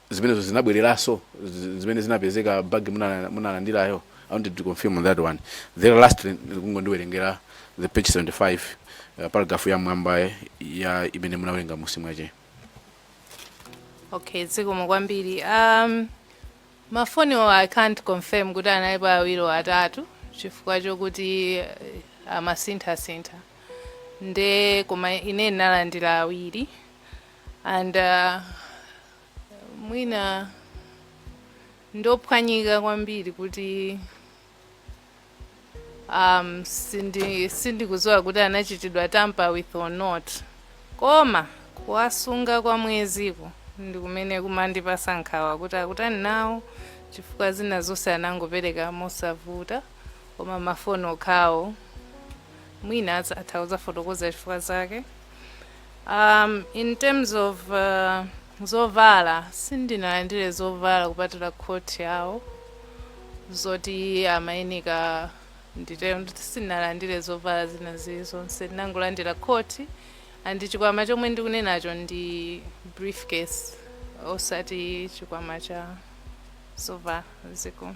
zimenezo zinabweleraso zimene zinapezeka bag munalandirayo i wanted to confirm on that one then lastly kungondiwerengera the page 75 uh, paragraph ya mwamba ya imene munawerenga musi mwache okay zikomo kwambiri um, mafoniwo i can't confirm kuti analipo awiri or atatu chifukwa chokuti eh, amasinthasintha nde koma ine ndinalandira awiri and uh, mwina ndophwanyika kwambiri kuti um, sindi sindikudziwa kuti anachitidwa tamper with or not koma kuwasunga kwa mweziko ndi kumene kumandipasa nkhawa kuti akutani nawo chifukwa zina zonse anangopereka mosavuta koma mafoni okhawo mwina atha kudzafotokoza chifukwa zake Um, in terms of uh, zovala sindinalandire zovala kupatula khoti yawo zoti amayenika nditero nditi sindinalandire zovala zina zili zonse ndinangolandira khoti and chikwama chomwe ndikunenacho ndi briefcase osati chikwama cha zovala chikulu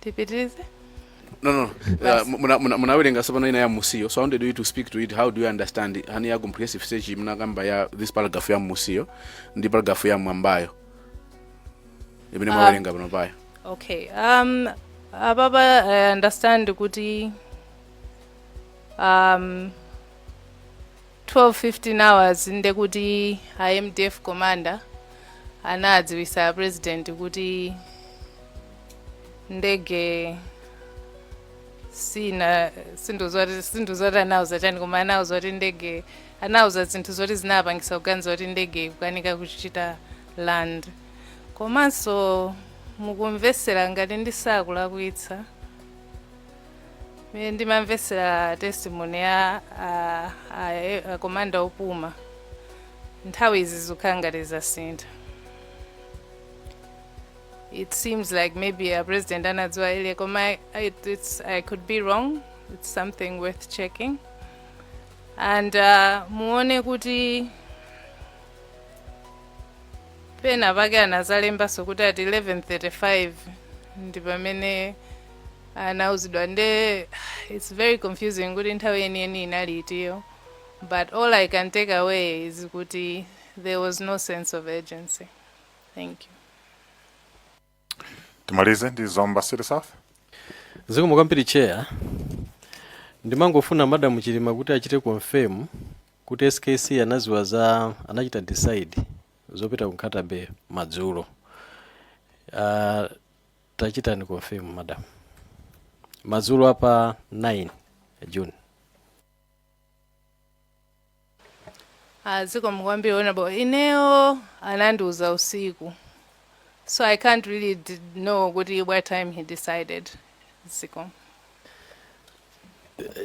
tipitirize no no uh, muna- muna- munawerenga sopano ina ya musiyo so i wanted you to speak to it how do you understand it? hani ya comprehensive stage munakamba ya this paragraph ya musiyo ndi paragraph ya mwambayo imene Ah. mwawerenga pano payo okay um ababa i understand kuti um 12:15 hours ndekuti a mdf commander anadziwisa a president kuti ndege sina sindidziwa kuti anauza chani koma anauza kuti ndege anauza zinthu zoti zinapangisa kuganiza kuti ndege ikukanika kuchita land komanso mukumvesera ngati ndisakulakwitsa Mene ndimamvetsera testimony ya a- a- a komanda opuma nthawi izi zikukhala ngati zasintha it seems like maybe a president anadziwa ile koma I- it, it's, i could be wrong it's something worth checking and uh, muone kuti pena pake anazalembaso kuti at 1135 ndi pamene anauzidwa nde it's very confusing kuti nthawi yeniyeni inali itiyo but all i can take away is kuti there was no sense of urgency thank you timalize ndi zomba city south zikomo kwambiri chair ndimangofuna madam chilima kuti achite confirm kuti skc anaziwa za anachita decide zopita ku Nkhata Bay madzulo uh, Tachitani confirm madam. Madzulo apa 9 June. Ah, zikomo kwambiri honorable ineyo anandiuza usiku so i can't really d- know kuti what time he decided zikomo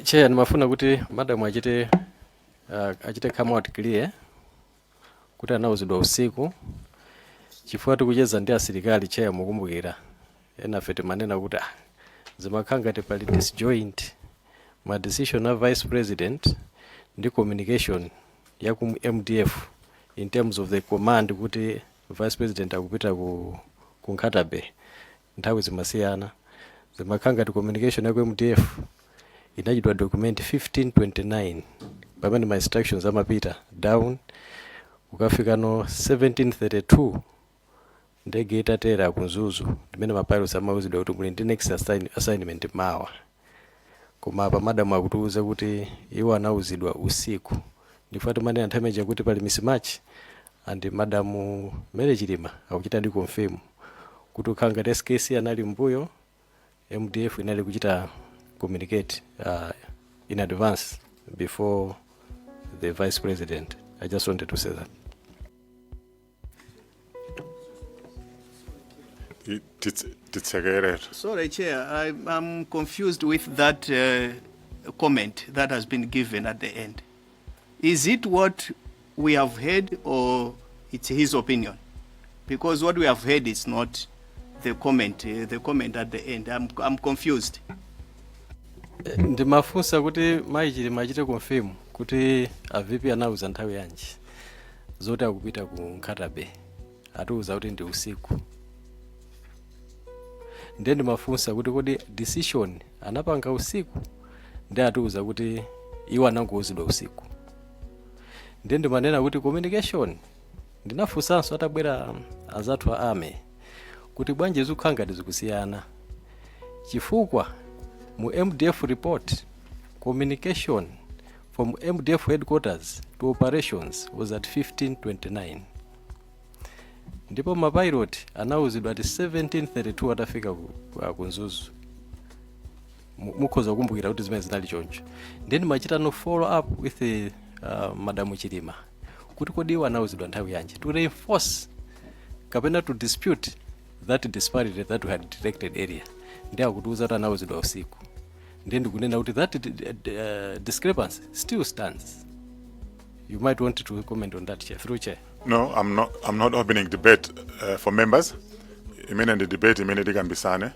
Chair, nimafuna kuti madam achite uh, achite come out clear kuti anauzidwa usiku chifukwa tikucheza ndi asilikali chair mukumbukira enafe timanena kuti ah, zimakhala ngati pali disjoint ma decision a vice president ndi communication ya ku mdf in terms of the command kuti vice president akupita ku, ku Nkhata Bay nthawi zimasiyana zimakhala ngati communication ya ku mdf inachitidwa document 1529 pamene ma instructions amapita down kukafika no 1732 ndege itatera ku mzuzu ndimene ma pilots amauzidwa kuti muli ndi next assign, assignment mawa Koma apa madam akutiuza kuti iwo anauzidwa usiku ndifukwa timanena nthawi imeneija kuti pali mismatch and madam Mary Chilima akuchitadi confirm kuti kukhala ngati skc anali mmbuyo mdf inali kuchita communicate uh, in advance before the vice president. I just wanted to say that. I- tits- titsekerera Sorry, Chair, I, I'm confused with that uh, comment that has been given at the end. Is it what we have heard or it's his opinion? Because what we have heard is not the comment, uh, the comment at the end. I'm, I'm confused. ndimafunsa kuti mayi chilima achite confirm kuti a vp anauza nthawi yanji zoti akupita ku Nkhata Bay atiuza kuti ndi usiku ndiye ndimafunsa kuti kodi decision anapanga usiku ndiye atiuza kuti iwo anangouzidwa usiku ndiye ndimanena kuti communication ndinafunsanso atabwera azathu a army kuti bwanji zikukhala ngati zikusiyana chifukwa mu mdf report communication from mdf headquarters to operations was at 1529 ndipo mapilot anawuzidwa ati 1732 atafika ku, ku- ku nzuzu Mu- mukhoza kukumbukira kuti zimene zinali choncho nde ndimachita a follow up with the, uh, madamu chilima kuti kodi iwo anawuzidwa nthawi yanji to reinforce kapena to dispute that disparity that we had detected earlier ndiye akutiuza kuti anawuzidwa usiku ndiye ndikunena kuti that d- d- d- uh, discrepancy still stands you might want to comment on that chair through chair No, I'm not. I'm not opening debate uh, for members. Imene ndi debate imene tikambisane.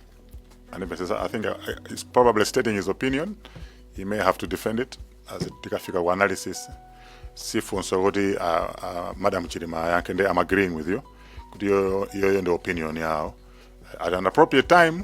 And if I say- I think uh, it's probably stating his opinion. He may have to defend it as it tikafika ku analysis. Sifunso kuti uh, uh, Madam Chilima yake ndi I'm agreeing with you. Kuti yo yo ndi opinion yawo. At an appropriate time,